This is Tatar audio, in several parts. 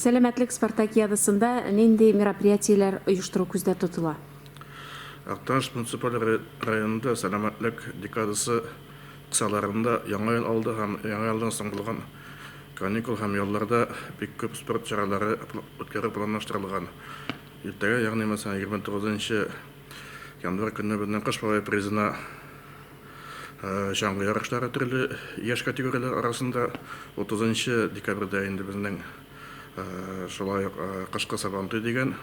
Сәламәтлек спартакиадасында нинди мероприятиеләр оештыру күздә тотыла? Актаныш муниципаль районында Сәламәтлек декадасы кысаларында Яңа ел алды һәм Яңа елдан соң булган каникул һәм ялларда бик күп спорт чаралары үткәрү планлаштырылган. Иртәгә, ягъни мәсәлән, 29 январь көнне безнең Кыш бабай призына чаңгы ярышлары төрле яшь категорияләр арасында, 30 декабрьдә инде безнең шулай ук кышкы Сабантуй дигән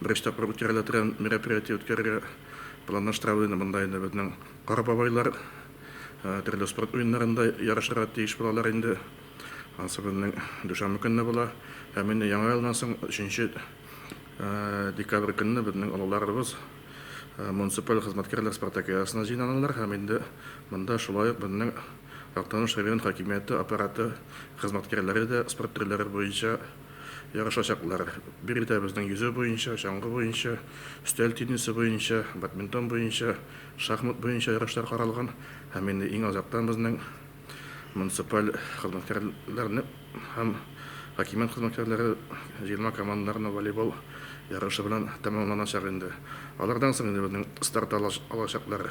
Беренче тапкыр үткәрелә торган мероприятие үткәрергә планлаштырабыз инде. Монда инде безнең кара бабайлар төрле спорт уеннарында ярышырга тиеш булалар инде. Ансы безнең дүшәмбе көнне була. Һәм инде яңа елдан соң 3 декабрь көнне безнең олыларыбыз муниципаль хезмәткәрләр спартакиадасына җыйналалар һәм инде монда шулай ук безнең Актаныш район хакимияте аппараты хезмәткәрләре дә спорт төрләре буенча Ярышачаклар, биредәбезнең йөзү буенча, чаңгы буенча, өстәл теннисы буенча, бадминтон буенча, шахмат буенча ярышлар каралган һәм инде иң азактан безнең муниципаль хезмәткәрләрне һәм хакимият хезмәткәрләре җыелма командаларны волейбол ярышы белән тәмамланачак инде. Алардан соң инде безнең старт алачаклар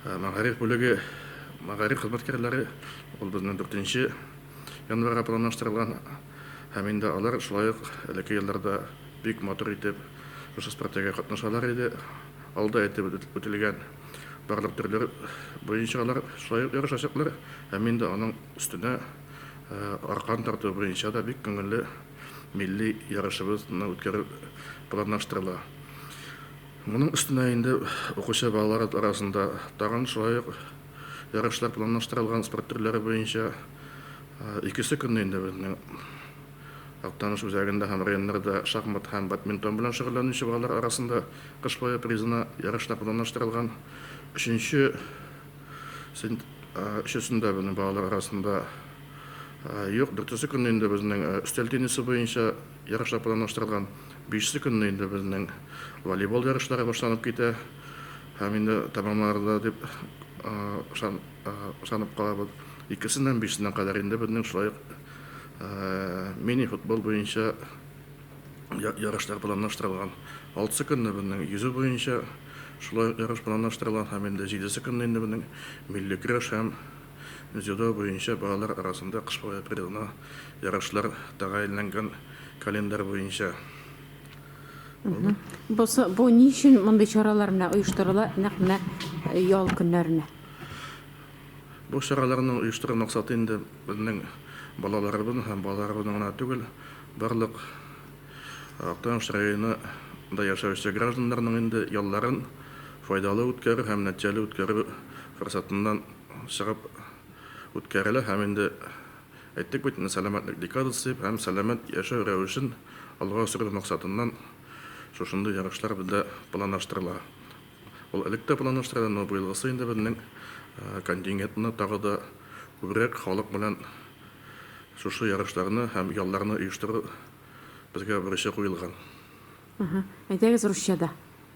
мәгариф бүлеге, мәгариф хезмәткәрләре, ул безнең дүртенче. январьга планлаштырылган һәм инде алар шулай ук элекке елларда бик матур итеп шушы спартега катнашалар иде. Алда әйтеп үтелгән барлык төрләр буенча алар шулай ук ярышачаклар һәм инде аның өстенә аркан тарту буенча да бик күңелле милли ярышыбызны үткәрү планлаштырыла. Моның өстенә инде укучы балалар арасында тагын шулай ук Ярышлар планлаштырылган спорт төрләре буенча икесе көнне инде безнең Актаныш үзәгендә һәм районнарда шахмат һәм бадминтон белән шөгыльләнүче балалар арасында кыш бае призына ярышлар планлаштырылган. Өченче сент өчесендә безнең балалар арасында юк. Дүртесе көнне инде безнең өстәл теннисы буенча ярышлар планлаштырылган. Бишесе көнне инде безнең волейбол ярышлары башланып китә. Һәм инде тәмамларда дип ышанып калабыз. Икесеннән бишенә кадәр инде безнең шулай ук мини-футбол буенча ярышлар планлаштырылган. Алтысы көнне безнең йөзү буенча шулай ук ярыш планлаштырылган һәм инде җидесе көнне инде безнең милли көрәш һәм дзюдо буенча балалар арасында кыш бабай призына ярышлар тәгаенләнгән календарь буенча. Бу, бу ни өчен мондый чаралар менә оештырыла, нәкъ менә э, ял көннәренә? Бу чараларны оештыру максаты инде безнең балаларыбыз һәм балаларыбызның гына түгел, барлык э, Актаныш районында яшәүче гражданнарның инде ялларын файдалы үткәрү һәм нәтиҗәле үткәрү форсатыннан чыгып үткәрелә һәм инде Әйттек бит инде, сәламәтлек декадасы һәм сәламәт яшәү рәвешен алга сөрү максатыннан шушындый ярышлар бездә планлаштырыла. Ул элек тә планлаштырыла, но быелгысы инде безнең контингентны тагы да күбрәк халык белән шушы ярышларны һәм ялларны оештыру безгә бурычы куелган. Әйдәгез русча да.